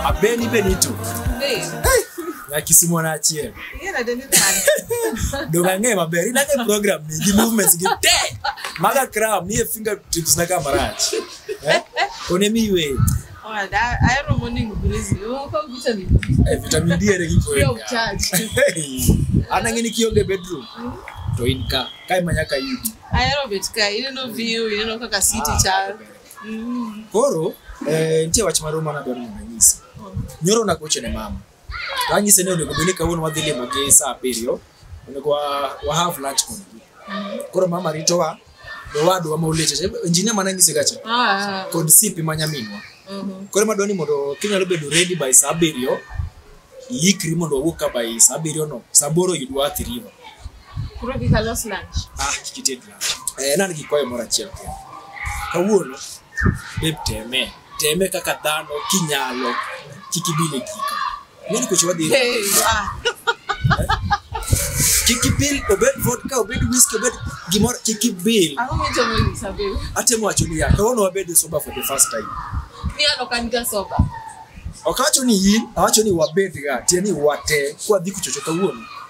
Abeni Benito. Na Kisumu na Achiel. Ndo ng'e maber. Ina ng'e program ni gi movements gi te. Maga cram ni e fingertips na kamarach. Eh? Kone miwe. Owada, ahero morning breeze. Moko gicha ni. Eh, vitamin D ere kiko Yo weka. charge. Ana ngini kionge bedroom. To in ka. Kai manyaka yudi. Ahero bet ka ineno view, ineno kaka city Ah, chal. Mm. Koro eh nitie wach moro mana dwaro mondo anyisi. Nyoro nagocho ne mama. Tanyise ni onego bed ni kawuono wadhi limo gi saa abiriyo onego wa, wa have lunch kodgi. Koro mama ritowa be wadwa ma oleche injinia mana nyise gacha Ah, kod sipi ma nyaminwa. mhm. Koro madwa ni mondo kinyalo bedo ready by saa abiriyo iikri mondo wawuog ka by saa abiriyo no saa aboro yudwa Athi River. Koro kika los lunch. Ah, kikited lunch. Eh, nan gi kwayo moro achiel kende. Kawuono beb temee teme kaka dhano kinyalo kik ibile gika ng'eni kucho wadhi Hey, ah, kik ibil obed vodka obed whisky obed gimoro kik ibil ang'o michomo nyisa babe? atemo wacho niya kawuono wabed e soba for the first time Mi an ok an ga soba. ok awacho ni in awacho ni wabedga tiende ni wate kwadhi kuchocho kawuono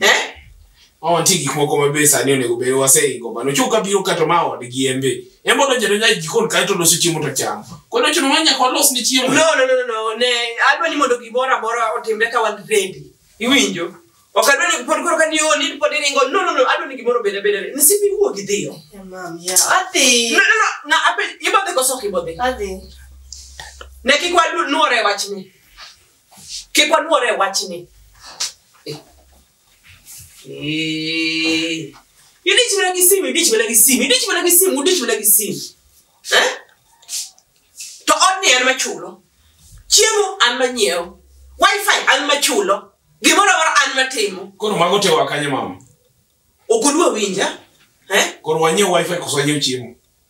Eh? Ma wantie gik moko ma be sani onego bed waseiko mano. Chuo ka biro kato ma odgi en be. En bodo jado nyai jikon kae to loso chiemo to chamo. Kono chuno ma nyaka walos ni chiemo. No, no, no, no, no. Ne, adwa ni mondo gimoro amora otimre ka wan ready. Iwinjo? Ok adwa ni pod koro ka ni oh, ni pod iringo. No, no, no. Adwa ni gimoro beda beda. Ni sipi wuo gi dhiyo. Yeah, mom, yeah. Adhi. No, no, no. Na ape ibodhe koso ok ibodhe. Adhi. Ne kik waluore wachni. Kik waluore e wachni. Eh. Eh. Idich mana gi simu, idich mana gi simu, idich mana gi simu, udich mana gi simu. Eh? To odni an machulo. Chiemo an manyiewo. Wi-Fi an machulo. Gimoro amora an matimo. Koro mago te wakanye mama. Okudwa winja? Eh? Koro wanyiew Wi-Fi koso wanyiew chiemo.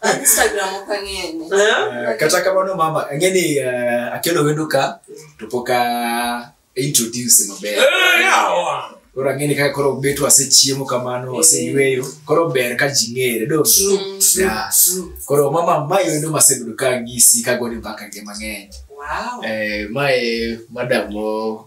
An Instagram ok ang'eye ni. Eh? Eh, kata kamano mama ang'e ni eh, akelo wendo ka to pok a introduce maber Eh, yawa. koro ang'e ni kaka koro bet wasechiemo kamano waseyweyo koro ber ka ji ng'ere do True, true, Yeah. true. koro mama mae wendo masebedo ka ng'isi kagoni mbaka ge mang'eny Wow. Eh, mae madam mo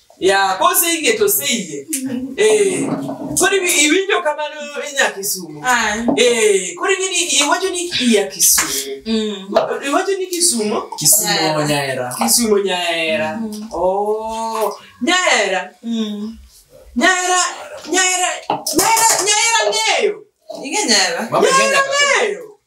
ya kose iye to se iye eh kori bi- iwinjo kamano inya kisumu Ah. eh kori ngini iwacho ni iya kisumu Mm. iwacho ni kisumu kisumo nyaera kisumu nyaera oh nyaera Mm. nyaera nyaera nyaera nyaera ngeyo Ing'e nyara. Mama Kenya kaka- ngeyo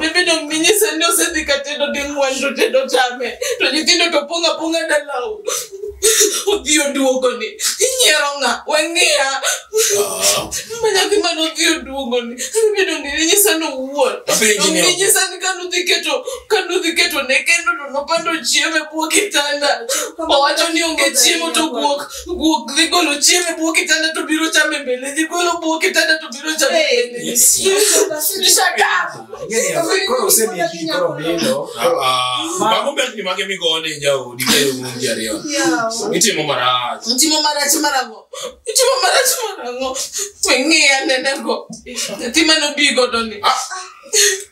Bibi dong minyisa ni osedhi ka tedo ding'wen to tedo chame to nyithindo to pong' apong'a dalau. Odhi oduogoni. Inyiero ng'a? Weng'iya. Ma nyathi mane odhi oduogoni. Bibi dong minyisa ni owuon. Apenji Dong ni- minyisa ni ka nudhi keto ka nudhi keto ne kendo to nopando chiemo e bwo kitanda. Owacho ni onge chiemo to guok guok dhi golo chiemo e bwo kitanda to biro chame mbele dhi golo bwo kitanda to Bagumbek ni mage migone jau dikelo mungi ariyo. Itimo marach. Mtimo marach marango. Mtimo marach marango. Weng'e anene go. Nyathi mane obi godo ni.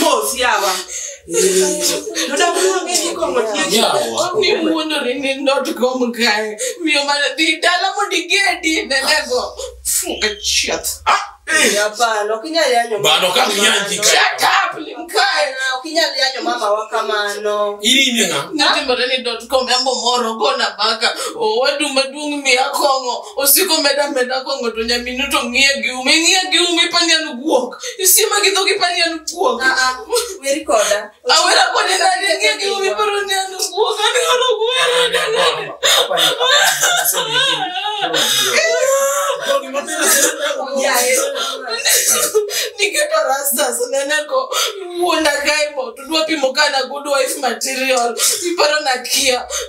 Mos yawa. Noda kuwa ngeni kongo tiyo. Yawa. Ni mundo rini not kom kae. Miyo mana di dala mo di gedi nenego. Funga chat. Ah. Hapana, ukinyali yanyo. Bado kama yanji kae. Shut up limkae. Ukinyali yanyo mama wakamano. Ili nina. Nati mbarani dot com yambo moro gona baka. Wadu madungi miya kongo. Osiko meda meda kongo to nyaminu to ngiya giumi. Ngiya giumi panya nuguok. You see, magi dhogi pani an guok. Ah, ah, weri koda. Awera kode nani ngi gi umi paro ni an guok. Ani horo gwera ni nani. Niketo rastas nene ko wuonda kae mo tudwa pimo kana good wife material. Iparo na kia.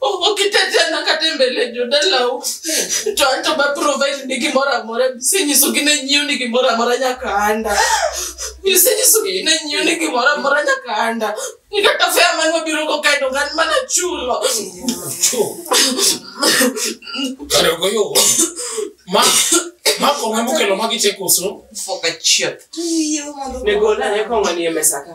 okitejana kata e mbele jodalau to an to baprovide ni gimoro amora bisenyiso gi ne nyiew ni gimoro amora nyaka anda bisenyiso gi ne nyiew ni gimoro amora nyaka anda ni kata fea man wabiro go kae dongan mana chulo kare ogoyo ma ma kong'e mokelo magi chekoso Fuck a chip. Nego nane kong'o ni e mesa ka.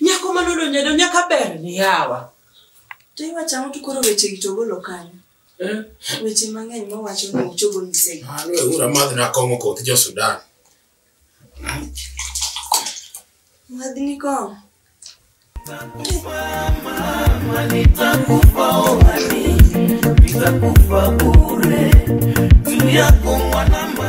Nyako ma nodonjo do nyaka ber ni yawa. To iwacho ang'o to koro wechegi to ogolo kanyo? Eh? Weche mang'eny mowacho ni ochogo nyisegi. Mano e ura madh nakong'o koth jo Sudan. Madhni kong'o. Nitakufa uhani, nitakufa bure, juu yako mwanama